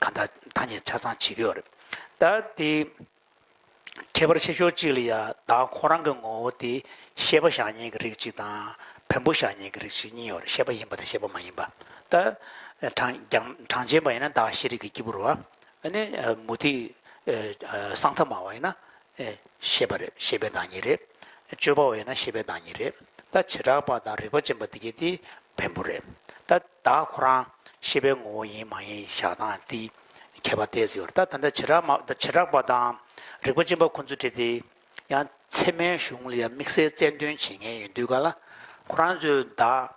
གང་དག་བདག་ཉིད་ཆ་ཚང་ཇི་སྐད་རེད། ད་དེ། ཁྱད་པར་ཆེ་ཕྱོགས་གཅིག་ལ་ཡང་བདག་ཁོ་རང་གི་ངོ་བོ་དེ་ཤེས་པ་ཞག་གཉིས་ཀྱི་རིགས་གཅིག་དང། བེམ་པོ་ཞག་གཉིས་ཀྱི་རིགས་གཅིག་གཉིས་ཡོད་ཤེས་པ་ཡིན་པ་དང་ཤེས་པ་མ་ཡིན་པ། ད། གྲངས་ཅན་པ་ཡིན་ན་བདག་ཤེས་རིག་གི་སྐྱེས་བུར་བ། ནི། མུ་ཏིག། གསང་ཐབས་མ་བ་ཡིན་ན། ཤེས་པ་རེད་ཤེས་པའི་བདག་ཉིད་རེད། སྤྱོད་པ་བས་ན་ཤེས་པའི་བདག་ཉིད་རེད། ད་བྱེ་བྲག་པ་དང་རིག་པ་ཅན་པ་འདི་གཉིས་དེ་བེམ་པོ་རེད། ད་བདག་ཁོ་རང་ཤེས་པའི་ངོ་བོ་ཡིན་མ་ཡིན་བཞག་སྟངས་དེ་ཁྱད་པར་ཏེ་ཟེར་བ་རེད། ད་བྱེ་བྲག་མ་བྱེ་བྲག་པ་དང་རིག་པ་ཅན་པ་ཁོ་ཚོས་བྲིས་ཏེ་ཡང་ཚད་མའི་གཞུང་ལ་ཡང་དམིགས་བསལ་རྩལ་འདོན་བྱེད་མཁན་ཡོད་འདུག་ག་ལ་ཁོ་རང་ཚོས་བདག་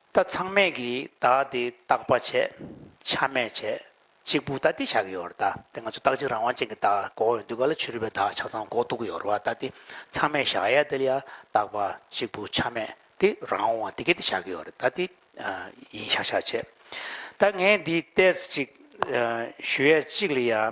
ད་ཚང་མས་གིས་བདག་འདི་རྟག་པ་བྱས། ཆ་མེད་བྱས། གཅིག་པུ་ད་འདི་བྱ་གི་ཡོད་ར་ད། དེ་ང་ཚོ་རྟག་གཅིག་རང་དབང་ཅན་གྱི་བདག་འགོག་འོས་འདུག་ག་ལ་ཆོས་རིག་པའི་བདག་ཆ་ཚང་འགོག་འདུག་གི་ཡོད་ར་ད་འདི། ཚང་མས་བཞག་ཡ་འདི་ལ་ཡ་རྟག་པ་གཅིག་པུ་ཆ་མེད་འདི་རང་དབང་འདི་ག་འདི་བྱ་གི་ཡོད་ར་ད་འདི། ཡིན་བྱ་བྱ་བྱས། ད་ངས་འདི་བལྟས་ཅིག། ཞུ་ཡ་གཅིག་ལ་ཡ།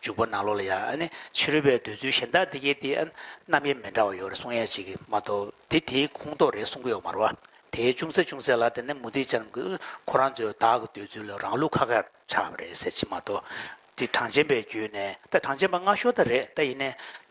འཇུག་པ་ནང་ལོགས་ལ་ཡང་ཕྱི་རོལ་པའི་འདོད་ཚུལ་གཞན་དག་འདི་སྐད་དེ། རྣམ་དབྱེ་མི་འདྲ་བ་ཡོད་རེད་གསུངས་ཡ་ཅིག་གིས་མ་གཏོགས་དེ་དེའི་ཁུངས་གཏོགས་རེད་གསུང་གི་ཡོད་མ་རོ། དེའི་ཅུང་ཟད་ཅུང་ཟད་ལ་དེ་ནི་མུ་སྟེགས་ཅན་གྱི་ཁོ་རང་ཚོའི་བདག་གི་འདོད་ཚུལ་ལ་རང་ལུགས་ཁ་ཁར་ཆགས་པ་རེད་ཟེར་གྱི་མ་གཏོགས། དེ་གྲངས་ཅན་པའི་རྒྱུད་ནས་ད་གྲངས་ཅན་པ་སྔ་ཤོར་ད་རེད་ད་ཡིན་ནའི།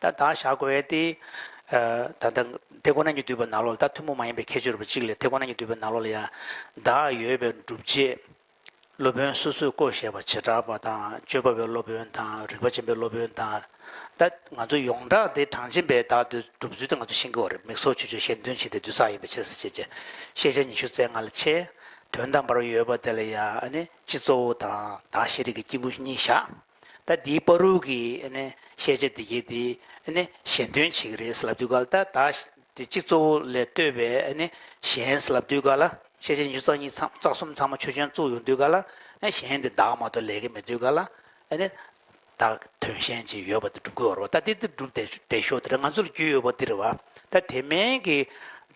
ད་དག་བཞག་དགོས་ཡས་ཏེ། ད་ལྟ་དེ་ཁོ་ན་ཉིད་འདུས་པ་ནཱ་ལོ་ལ་ད་ཐུན་མོང་མ་ཡིན་པའི་ཁྱད་ཆོས་རབ་གཅིག་ལས་དེ་ཁོ་ན་ཉིད་འདུས་པའི་ནཱ་ལོ་ལ་ཡང་དག་ཡོད་པའི་སྒྲུབ་བྱེད། སློབ་དཔོན་སོ་སོས་བསྐོ་བཞེས་པ་བྱེ་བྲག་པ་དང་སྤྱོད་པ་བའི་སློབ་དཔོན་དང་རིག་པ་ཅན་པའི་སློབ་དཔོན་དང། ད་ང་ཚོ་ཡོངས་གྲགས་དེ་གྲངས་ཅན་པའི་དག་འདུས་སྒྲུབ་ཚུལ་དེ་ང་ཚོ་ཤེས་ཀྱི་བ་རེད་མིག་སོགས་ཆོས་སྤྱོད་གཞན་དོན་བྱེད་དེ་འདུས་བསགས་ཡིན་པའི་ཕྱིར་ཟེར་བྱེད་བྱེད་ཤེས་བྱ་ཉི་ཤུ་རྩེ་ལྔ་ལ་ཆེ། དོན་དམ་པར་ཡོད་པ་དེ་ལ་ཡང་ནི་སྤྱི་གཙོ་བོ་དང་དག་ཤེས་རིག་གི་དཀྱིལ་འཁོར་གཉིས་བཞག། ད་འདིའི་པཱ་རུག་གི་བཤད་བྱ་འདི་གའི་འདི་གཞན་དོན་བྱེད་ཀྱི་རེད་ཟེར་ལབ་དུས་ག་ལ་ད་ད་དེ་གཅིག་གཙོ་བོ་ལས་ལྟོས་པའི་གཞན་ཟེར་ལབ་དུས་ག་ལ་བཤད་བྱ་ཉིས་བརྩེགས་གཉིས་བརྩེགས་བརྩེགས་གསུམ་ཚང་མ་ཆོས་ཅན་བཙུགས་ཡོང་དུས་ག་ལ་གཞན་དེ་བདག་མ་གཏོགས་ལས་ཀ་མེད་དུས་ག་ལ་བདག་དོན་གཞན་ཅིག་ཡོད་པ་དེ་སྒྲུབ་དགོས་རེད་བ་ད་འདི་འདི་སྒྲུབ་བསྡད་ཤོག་དེ་ར་ང་ཚོ་ལ་རྒྱུས་ཡོད་པ་འདི་རེད་བ་ད་དེ་མིན་གྱི་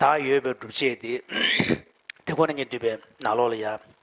བདག་ཡོད་པའི་སྒྲུབ་བྱེད་དེ་དེ་ཁོ་ན་ཉིད་འདུས་པའི་ནག་ལོག་ལ་ཡ།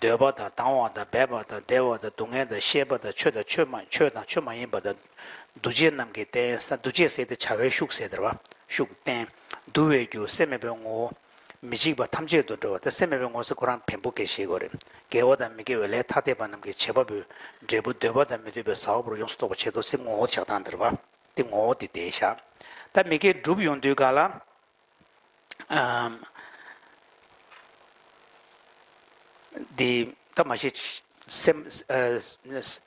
འདོད་པ་དང་དང་བ་དང་འབད་པ་དང་བདེ་བ་དང་སྡུག་བསྔལ་དང་ཤེས་པ་དང་ཆོས་དང་ཆོས་མ་ཆོས་དང་ཆོས་མ་ཡིན་པ་དང། འདུ་བྱེད་རྣམས་ཀྱི་རྟེན་ས་འདུ་བྱེད་ཟད་དེ་བྱ་བའི་ཤུགས་ཟད་དེར་བ་ཤུགས་རྟེན། འདུ་བའི་རྒྱུ་སེམས་མེད་པའི་ངོ་བོ། མི་འཇིགས་པ་ཐམས་ཅད་དུ་འགྲོ་བ་སྟེ་སེམས་མེད་པའི་ངོ་སེ་ཁོ་རང་བེམ་པོ་དགེ་བྱེད་གོ་རེ། དགེ་བ་དང་མི་དགེ་བའི་ལས་ཐ་དད་པ་རྣམས་ཀྱི་བྱེད་པ་པོའི་འབྲས་བུ་འདོད་པ་དང་མི་འདོད་པའི་ས་བ་པོར་ཡོངས་སུ་རྟོག་པར་བྱེད་དོ་སེམས་ངོ་བོ་ཆགས་སྡང་འདིར་བ་སྟེ་ངོ་བོ་དེ་དེའི་ཞག། ད་མི་དགེ་བསྒྲུབ་ཡོང་དུས་ག་ལ། འདི་ད་མ་ཤེས། སེམས་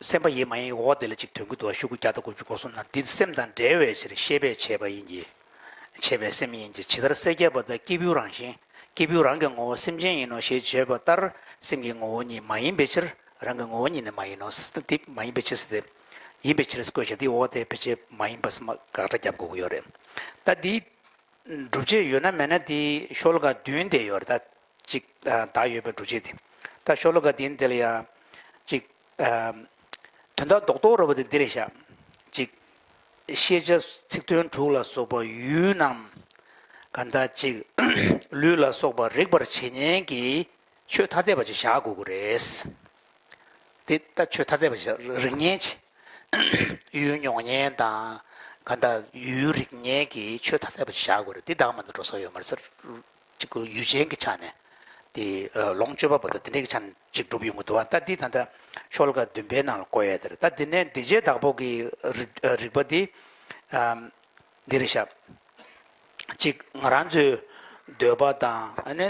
སེམས་པ་ཡིན་མ་ཡིན་འོ་དེ་ལ་ཅིག་དོན་གྱི་དུ་བ་ཤུག་གུ་བརྒྱ་དང་དགུ་བཅུ་སྒོ་གསུམ་ན་འདི་སེམས་དང་བྲལ་བའི་ཕྱིར་ཤེས་པས་བྱས་པ་ཡིན་གྱི། བྱས་པའི་སེམས་ཡིན་གྱི་ཇི་ལྟར་སེལ་བརྒྱད་པ་དག་སྐྱེས་བུའི་རང་བཞིན་སྐྱེས་བུའི་རང་གི་ངོ་བོ་སེམས་ཅན་ཡིན་ནོ་ཞེས་བརྗོད་པ་ལྟར་སེམས་ཀྱི་ངོ་བོ་ཉིད་མ་ཡིན་པའི་ཕྱིར་རང་གི་ངོ་བོ་ཉིད་ནི་མ་ཡིན་ནོ། འདི་མ་ཡིན་པའི་ཕྱིར་སེམས་ཡིན་པའི་ཕྱིར་བཀོད་བྱ་འདི་འོ་དེ་བེད་སྤྱད་མ་ཡིན་པ་སེམས་དགག་སྒྲ་བརྒྱབ་དགོས་ཀྱི་ཡོད་རེད། ད་འདིའི་སྒྲུབ་བྱེད་ཡོད་ན་མེད་ན་དེའི་ཤོ་ལོ་ཀ་བདུན་དེ་ཡོད་རེད་ད། གཅིག་བདག་ཡོད་པའི་སྒྲུབ་བྱེད་དེ། ད་ཤོ་ལོ་ཀ་བདུན་དེ་ལ་ཡང། གཅིག། དོན་དག་རྡོག་རྡོག་རེད་པ་དེ་འདི་རེད་བཞག། གཅིག། ཤེས་བྱ་ཚིག་དོན་དྲུག་ལ་སོགས་པ་ཡུལ་རྣམས། གང་དག་གཅིག། ལུས་ལ་སོགས་པ་རིག་པར་བྱེད་ཉན་གྱི། ཆོས་ཐ་དད་པ་ཞིག་བཞག་དགོས་དགོས་རེད། དེ་ལྟ་ཆོས་ཐ་དད་པ་ཞིག་བཞག་རིགས་ངན་ཆེ། ཡུལ་མྱོང་ངན་དང། གང་དག་ཡུལ་རིགས་ངན་གྱི་ཆོས་ཐ་དད་པ་ཞིག་བཞག་དགོས་རེད་དེ་དག་མ་འདི་འགྲོ་ས་ཡོད་མ་རེད་ཅིག་གོ་ཡུལ་ཅན་གྱི་ཆ་ནས་དེ་ལོངས་སྤྱོད་པ་པོ་དང་དེ་འདྲ་གྱི་ཆ་ནས་ཅིག་སྒྲུབ་ཡོང་གི་འདུག་ད་འདི་ད་ལྟ་ཤོ་ལོ་ཀ་བདུན་པའི་ནང་ལ་བཀོད་ཡ་དེ་རེད་ད་འདི་ནས་འདི་རྗེས་བདག་པོ་གི་རིགས་པ་འདི་འདི་རེད་བཞག་ཅིག་ང་རང་ཚོའི་འདོད་པ་དང་ཨ་ནི།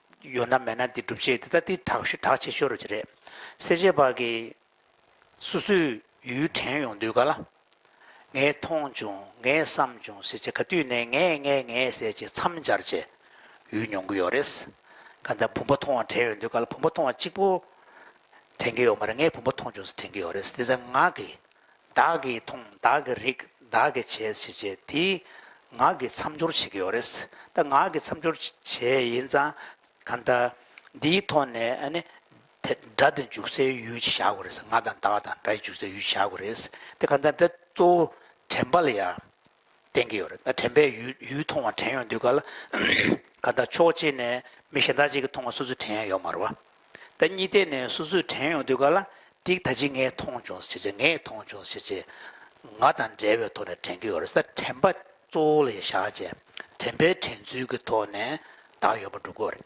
ཡོད་ན་མེད་ན་དེ་སྒྲུབ་བྱེད་དེ་ལྟ་དེ་དྲག་ཤུལ་དྲག་ཆེ་ཤོས་རེད། སེར་བྱེས་བར་གྱི་སོ་སོའི་ཡུལ་དྲན་ཡོང་དུས་ག་ལ། ངས་མཐོང་བྱུང་ངས་བསམ་བྱུང་ཟེར་བྱེད་ག་དུས་ནས་ངས་ངས་ངས་ཟེར་བྱེད་མཚམས་སྦྱར་བྱེད་ཡུལ་མྱོང་གི་ཡོད་རེད། ག་ད་བུམ་པ་མཐོང་བ་དྲན་ཡོང་དུས་ག་ལ་བུམ་པ་མཐོང་བ་གཅིག་པོ་དྲན་གྱི་ཡོད་མ་རེད་ངས་བུམ་པ་མཐོང་བྱུང་ཟེར་དྲན་གྱི་ཡོད་རེད་དེ་ཚེ་ངག་གིས་བདག་གིས་མཐོང་བདག་གིས་རིག་བདག་གིས་བྱས་བྱས་བྱས་དེ་ངག་གིས་མཚམས་སྦྱོར་བྱེད་ཀྱི་ཡོད་རེད། ད་ངག་གིས་མཚམས་སྦྱོར་བྱས་ཡིན་ཙང་ག་ད་འདིའི་ཐོག་ནས་ཨ་ནི། དེ་སྒྲ་དེ་འཇུག་སའི་ཡུལ་བྱ་དགོས་རེད། ང་དང་བདག་དང་སྒྲ་ཡི་འཇུག་སའི་ཡུལ་བྱ་དགོས་རེད། དེ་ག་ད་འདི་གཙོ་བོ་དྲན་པ་ལ་ཡང་བསྟན་གྱི་ཡོད་རེད་ད་དྲན་པས་ཡུལ་ཡུལ་མཐོང་བ་དྲན་ཡོང་དུས་ག་ལ་ག་ལྟར་ཕྱོགས་གཅིག་ནས་མི་གཞན་དག་ཅིག་གི་མཐོང་བ་སོ་སོས་དྲན་ཡོང་མ་རུ་བ་ད་གཉིས་ལྟས་ནས་སོ་སོས་དྲན་ཡོང་དུས་ག་ལ་འདིས་ད་ཅིག་ངས་མཐོང་བྱུང་ཟེར་ཅིག་ངས་མཐོང་བྱུང་ཟེར་ཅིག་ང་དང་འབྲེལ་བའི་ཐོག་ནས་དྲན་གྱི་ཡོད་རེད་ད་དྲན་པ་གཙོ་བོ་ལ་ཡེ་ཤག་ཅན་དྲན་པའི་དྲན་ཚུལ་གྱི་ཐོག་ནས་དག་ཡོད་པ་སྒྲུབ་དགོས་རེད།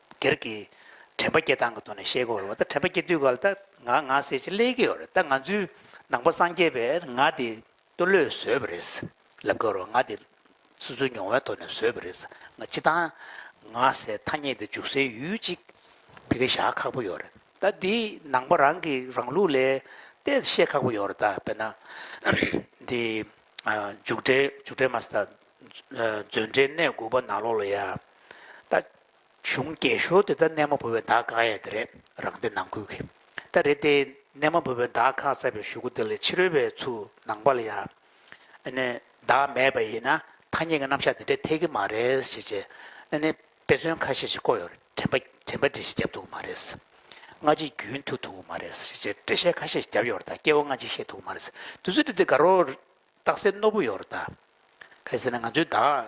སྒེར་གྱི་དྲན་པ་སྐྱེ་སྟངས་ཀྱི་ཐོག་ནས་བཤད་གི་ཡོད་ད་དྲན་པ་སྐྱེ་དུས་ག་ལ་ད་ང་ང་ཟེར་ཅིག་སླེབས་ཀྱི་ཡོད་རེད་ད་ང་ཚོའི་ནང་པ་སངས་རྒྱས་པས་ང་དེ་སྟོད་ལོས་བཟོས་པ་རེད་ལབ་ཀྱི་རེད་ང་དེ་སོ་སོའི་མྱོང་བའི་ཐོག་ནས་བཟོས་པ་རེད་ང་སྤྱི་བཏང་ང་ཟེར་ཐ་སྙད་དེ་འཇུག་སའི་ཡུལ་གཅིག་ཕི་གེ་བཞག་ཁག་པོ་ཡོད་རེད་ད་དེ་ནང་པ་རང་གི་རང་ལུགས་ལས་ཏེ་བཤད་ཁག་པོ་ཡོད་རེད་ད་དཔེར་ན་དེ་འཇུག་འབྲས་འཇུག་འབྲས་མ་ཟད་ད་མཛོད་འགྲེལ་གནས་དགུ་པ་ནང་ལོགས་ལ་ཡ་ད་གཞུང་རྒྱས་ཞོར་དུ་ད་གནས་མ་བུ་བའི་བརྡ་བཀག་ཡས་དེ་རེད་རང་སྡེ་ནང་ཁུལ་གི་ད་རེད་དེ་གནས་མ་བུ་བའི་བརྡ་བཀག་ཚར་པའི་ཞུ་གུ་དེ་ལས་ཕྱི་རོལ་བའི་ཚུགས་ནང་པ་ལ་ཡང་ཨ་ནི་བརྡ་མེད་པ་ཡིན་ན་ཐ་སྙད་ཀྱི་རྣམ་གཞག་དེ་འདྲས་འཐད་ཀྱི་མ་རེད་ཞེས་བྱས་ཨ་ནི་དཔེ་མཚོན་ཁ་ཤས་ཤིག་བཀོད་ཡོད་དྲན་པ་དྲན་པ་འདྲི་ཞིག་བརྒྱབ་འདུག་མ་རེད་སྔ་ཕྱི་རྒྱུན་མཐུད་འདུག་མ་རེད་ཞེས་བྱས་འགྲེལ་བཤད་ཁ་ཤས་ཤིག་བརྒྱབ་ཡོད་དང་སྐྱེ་བོ་སྔ་ཕྱི་ཤེས་འདུག་མ་རེད་དུས་ཚོད་འདི་དག་རོ་རྟགས་གསལ་རྣོ་པོ་ཡོད་དང། གལ་སྲིད་ན་ང་ཚོའི་བརྡ་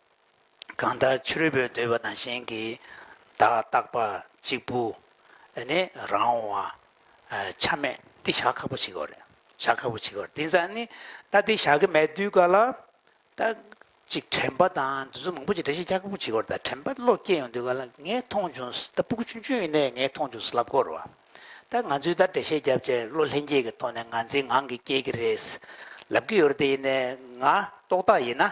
གང་ལྟར་ཕྱི་རོལ་པོའི་འདོད་པ་དང་གཞན་གྱི་བདག་རྟག་པ་གཅིག་པུ་ནི་རང་བ་ཆ་མེད། འདི་བྱ་ཁག་པོ་བྱེད་དགོས་རེད། བྱ་ཁག་པོ་བྱེད་དགོས་རེད་དེ་ཙམ་ནི་ད་དེ་བྱ་གི་མེད་དུས་ག་ལ་ད་ཅིག་དྲན་པ་དང་འདི་ཚོ་མང་པོ་བྱེད་འདྲ་བྱེད་བྱ་ཁག་པོ་བྱེད་དགོས་རེད་ད་དྲན་པ་བློ་སྐྱེ་ཡོང་དུས་ག་ལ་ངས་མཐོང་བྱུང་ད་སྤུ་གུ་ཆུང་ཆུང་ཡིན་ནའི་ངས་མཐོང་བྱུང་ལབ་དགོས་རེད་བ། ད་ང་ཚོས་ད་འགྲེལ་བཤད་བརྒྱབ་བྱས་བློ་ལྷན་སྐྱེས་ཀྱི་ཐོག་ནས་ང་འཛིན་ངང་གིས་སྐྱེ་གི་རེད་ལབ་ཀྱི་ཡོད་རེད་དེ་ཡིན་ནའི་ང་རྟོག་བཏགས་ཡིན་ན་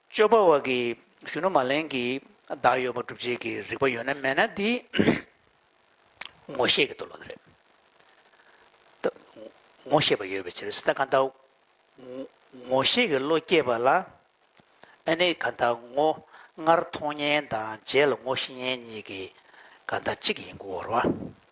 སྤྱོད་པ་བ་གི་གཞོན་ནུ་མ་ལན་གྱི་བདག་ཡོད་པ་སྒྲུབ་བྱེད་ཀྱི་རིགས་པ་ཡོད་ན་མེད་ན་དེ་ངོ་ཤེས་ཀྱི་འདུག་ལོ་དེ་རེད། ད་ངོ་ཤེས་པ་ཡོད་པའི་ཕྱིར་ད་གང་ལྟར་ངོ་ཤེས་ཀྱི་བློ་སྐྱེས་པ་ལ་ཨ་ནི་གང་ལྟར་ངོ་སྔར་མཐོང་ཉན་དང་རྗེས་ལ་ངོ་ཤེས་ཉན་གཉིས་ཀྱི་གང་ལྟར་གཅིག་ཡིན་དགོས་བར་བ།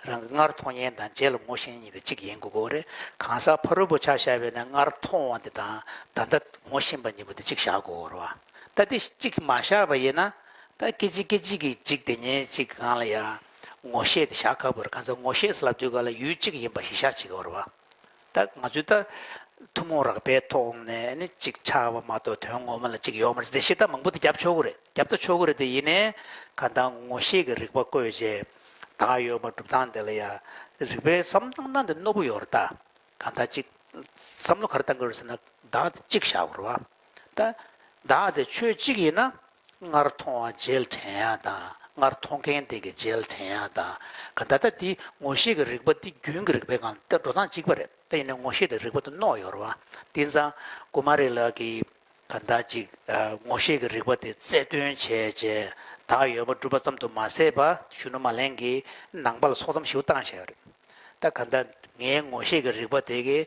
རང་གི་སྔར་མཐོང་ཡན་དང་རྗེས་ལ་ངོ་ཤེས་ཡན་གཉིས་དང་གཅིག་ཡིན་དགོས་གོ་རེ། གང་ཟག་ཕ་རོལ་པོ་ཆ་བཞག་པས་ན་སྔར་མཐོང་བ་འདི་དང་ད་ལྟ་ངོ་ཤེས་པ་གཉིས་པོ་འདི་གཅིག་བཞག་གོ་རོ། ད་འདི་གཅིག་མ་བཞག་པ་ཡིན་ན། ད་སྐད་ཅིག་སྐད་ཅིག་གིས་གཅིག་དེ་ཉིད་གཅིག་གང་ལ་ཡང་ངོ་ཤེས་ཏེ་བཞག་དཀའ་བར་གང་ཟག་ངོ་ཤེས་ལ་དུས་གང་ལ་ཡུལ་གཅིག་ཡིན་པ་གཞི་བཞག་བྱེད་དགོས་རོ། ད་ང་ཚོས་ད་ཐུན་མོང་རགས་པའི་ཐོག་ནས་ནི་ཅིག་ཆ་བ་མ་གཏོགས་དོན་ངོ་མ་ལ་ཅིག་ཡོད་མ་རེད་དེ་ཤེས་སྟངས་མང་པོ་དེ་རྒྱབ་ཆོག་གི་རེད་རྒྱབ་ད་ཆོག་གི་རེད་དེ་ཡིན་ནའི་གང་ལྟར་ངོ་ཤེས་ཀྱི་རིག་པ་བཀོད་རྗེས་ད་ཡོད་པ་སྒྲུབ་སྟངས་དེ་ལ་ཡ་རིག་པའི་བསམ་སྟངས་དེ་རྣོ་པོ་ཡོད་རེད་ད་གང་ལྟར་ཅིག་བསམ་བློ་ག་རེ་གཏང་གི་རེད་ཟེར་ན་ད་ཅིག་བཞག་རོགས། བདག་དེ་ཆོས་གཅིག་ཡིན་ན། སྔར་མཐོང་བ་རྗེས་དྲན་ཡང་དང་སྔར་མཐོང་མཁན་དེ་གི་རྗེས་དྲན་ཡང་དང། ད་ལྟ་དེ་ངོ་ཤེས་ཀྱི་རིག་པ་འདི་རྒྱུན་གྱི་རིག་པའི་ངང་དུ་འགྲོ་སྟངས་གཅིག་པ་རེད་དེ་ཡིན་ན་ངོ་ཤེས་དེ་རིག་པ་དུ་རྣོ་ཡོར་བ་དེ་ཚང་ཀུ་མ་རི་ལགས་ཀྱིས་ག་འདྲ་ཅིག་ངོ་ཤེས་ཀྱི་རིག་པ་དེ་རྩལ་བཏོན་བྱས་རྗེས་དག་ཡོད་པ་སྒྲུབ་པ་ཙམ་དུ་མ་ཟད་པ་གཞོན་ནུ་མ་ལེན་གྱི་ནང་པ་ལ་སོགས་ཙམ་ཞིབ་བཏང་བྱས་པ་རེད་ད་ག་འདྲ་ངའི་ངོ་ཤེས་ཀྱི་རིག་པ་དེ་གི་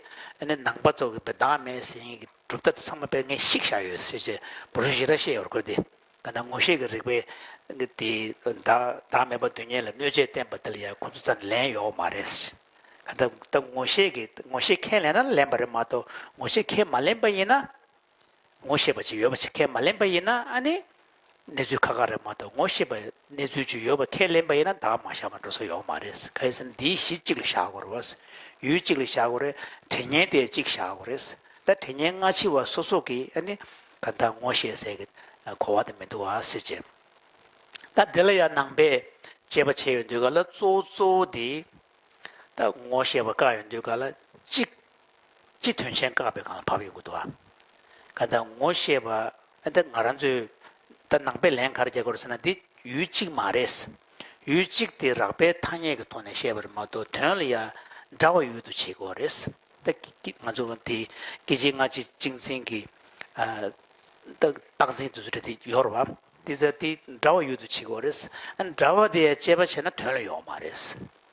ནང་པ་ཚོ་གི་བདག་མེད་ཟིན་གྲུབ་མཐའ་དེ་ཚང་མ་དཔེར་ངེས་ཤིག་བཞག་ཡོད་ཟེར་བྱས་བུ་རུ་བཞི་ར་ཤེས་ཡོད་ར་ཁོལ་དེ་ག་ན་ངོ་ཤེས་ཀྱི་རིག་པའི་གི་དེ་བདག་བདག་མེད་པ་དུས་ངན་ལ་གནོད་བྱེད་བསྟན་པ་དེ་ལ་ཡང་ཁོ་ཚོ་ཙམ་ལན་ཡོད་མ་རེད་ཟེར་བྱས་ག་ད་ད་ངོ་ཤེས་ཀྱི་ངོ་ཤེས་མཁན་ལན་ན་ལན་པ་རེད་མ་གཏོགས་ངོ་ཤེས་མཁན་མ་ལན་པ་ཡིན་ན་ངོ་ཤེས་པ་ཅིག་ཡོད་པ་ཆེ་མཁན་མ་ལན་པ་ཡིན་ན་ཨ་ནི་གནས་ཚུལ་ཁ་ཁ་རེད་མ་གཏོགས་ངོ་ཤེས་པ་གནས་ཚུལ་ཅིག་ཡོད་པ་ཁས་ལེན་པ་ཡིན་ན་དག་མ་བཞག་པ་འགྲོ་ས་ཡོང་མ་རེད་གལ་སྲིད་འདིའི་གཞི་གཅིག་ལ་བཞག་དགོས་རེད་བ། ཡུལ་གཅིག་ལ་བཞག་དགོས་རེད་དྲི་བརྙན་དེ་གཅིག་བཞག་དགོས་རེད་ད་དྲི་བརྙན་སྔ་ཕྱི་བ་སོ་སོ་གིས་ཨ་ནི་ག་འདའ་ངོ་ཤེས་ཟེར་གི་གོ་བ་དེ་མི་འདུག་བ་སེ་བྱས། ད་འདི་ལ་ཡང་ནང་པས་དཔྱད་པ་བྱས་ཡོད་འདུག་ག་ལ་གཙོ་བོ་གཙོ་བོ་དེ། ད་ངོ་ཤེས་པ་དཀའ་ཡོད་འདུག་ག་ལ་གཅིག་ཅི་དོན་ཆེན་བཀག་པའི་གང་བབས་ཡོད་དགོས་འདུག་ཨ། ག་ད་ངོ་ཤེས་པ་ཨ་ད་ང་རང་ཚོས་ད་ནང་པའི་ལན་གར་རྒྱག་དགོས་ཟེར་ན་འདི་ཡུལ་གཅིག་མ་རེད། ཡུལ་གཅིག་དེ་རགས་པའི་ཐ་སྙད་ཀྱི་ཐོག་ནས་བཤད་པ་རེད་མ་གཏོགས་དོན་ལ་ཡང་འདྲ་བ་ཡོད་དུ་བྱེད་དགོས་བ་རེད། ད་ཀྱི་ང་ཚོ་དེ་སྐད་ཆའི་སྔ་ཕྱི་གཅིག་མཚན་གྱི་རྟགས་འཛིན་དུ་ཟེར་དེ་ཡོད་རེད་བ། དེ་ཚོ་དེ་འདྲ་བ་ཡོད་དུ་བྱེད་དགོས་བ་རེད། འདྲ་བ་དེ་ཡང་དཔྱད་པ་བྱས་ན་དོན་ལ་ཡོང་བ་མ་རེད།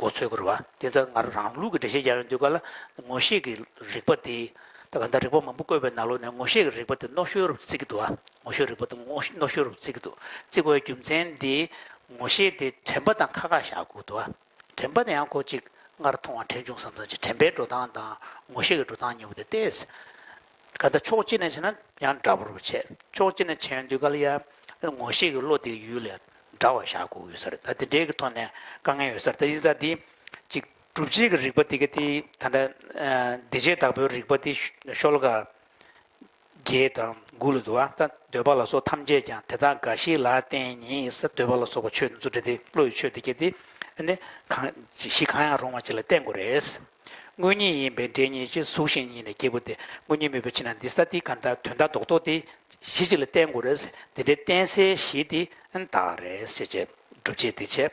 མགོ་ཚོས་བསྐུར་བ་དེ་འཛག་སྔར་རང་ལུགས་ཀྱི་འགྲེལ་བཤད་རྒྱ་ཡོལ་འདུས་པ་ལ་ངོ་ཤེས་ཀྱི་རིག་པ་དེ། ད་ག་འདའ་རིག་པ་མང་པོ་བཀོད་པའི་ནང་ལུགས་ནས་ངོ་ཤེས་ཀྱི་རིག་པ་དེ་རྣོ་ཤོས་རབ་ཏུ་བརྩི་གི་འདུག་ཨ། ངོ་ཤེས་རིག་པ་དེ་རྣོ་ཤོས་རབ་ཏུ་བརྩི་གི་འདུག་བརྩི་དགོས་པའི་རྒྱུ་མཚན་དེ། ངོ་ཤེས་དེ་དྲན་པ་དང་ཁ་ཁ་བཞག་དགོས་འདུག་ཨ། དྲན་པ་དེ་ཡང་ཁོ་གཅིག་སྔར་མཐོང་བ་དྲན་བྱུང་བསམ་བསམ་གྱི་དྲན་པའི་འགྲོ་སྟངས་དང་ངོ་ཤེས་ཀྱི་འགྲོ་སྟངས་གཉིས་པོ་དེ་སྟེ། ད་ལྟ་ཕྱོགས་གཅིག་ནས་བྱས་ན་ཡང་འདྲ་པོར་བྱས། ཕྱོགས་གཅིག་ནས་བྱས་ཡོང་དུས་ག་ལ་ཡ། ངོ་ཤེས་ཀྱི་བློ་དེ་ཡུལ་ལས་འདྲ་བ་བཞག་དགོས་ཡོད་ས་རེད་ད་དེ་འདྲའི་གི་ཐོག་ནས་དཀའ་ངལ་ཡོད་ས་རེད་ད་ཡིན་ཙང་དེ། ཅིག་སྒྲུབ་བྱེད་ཀྱི་རིག་པ་དེ་ག་དེ་ད་ལྟ། འདི་བྱེད་བདག་པོའི་རིག་པ་དེ་ཤོལ་ཀ། རྒྱལ་དང་དགུ་ལ་འདུ་བ་ད་འདོད་པ་ལ་སོགས་ཐམས་ཅད་ཀྱང་དེ་དག་འགའ་ཞིག་ལ་བརྟེན་ཉིད་ས་འདོད་པ་ལ་སོགས་པ་ཆོས་འདི་ཚུལ་འདི་དེ་བློ་ཡི་ཆོས་འདི་ག་དེ། ནི་གང། ཞིག་གང་ཡང་རུང་བ་ཅིག་ལ་བརྟེན་དགོས་རེད། དངོས་ཉིད་ཡིན་པའི་འབྲས་ཉིད་ཀྱི་གཟུགས་ཤིང་ཉིད་ནས་སྐྱེས་བུ་དེ་དངོས་ཉིད་མེད་པའི་ཕྱིར་ན་འདི་ས་ཏིའི་གང་དག་དོན་དག་ལྡོག་ཏོ་དེ་གཞི་གཅིག་ལ་བསྟན་དགོས་རེད། འདི་འདྲའི་བསྟན་སའི་གཞི་དེ་དག་རེད། ཅེས་བརྗོད། སྒྲུབ་བྱེད་འདི་བྱེད།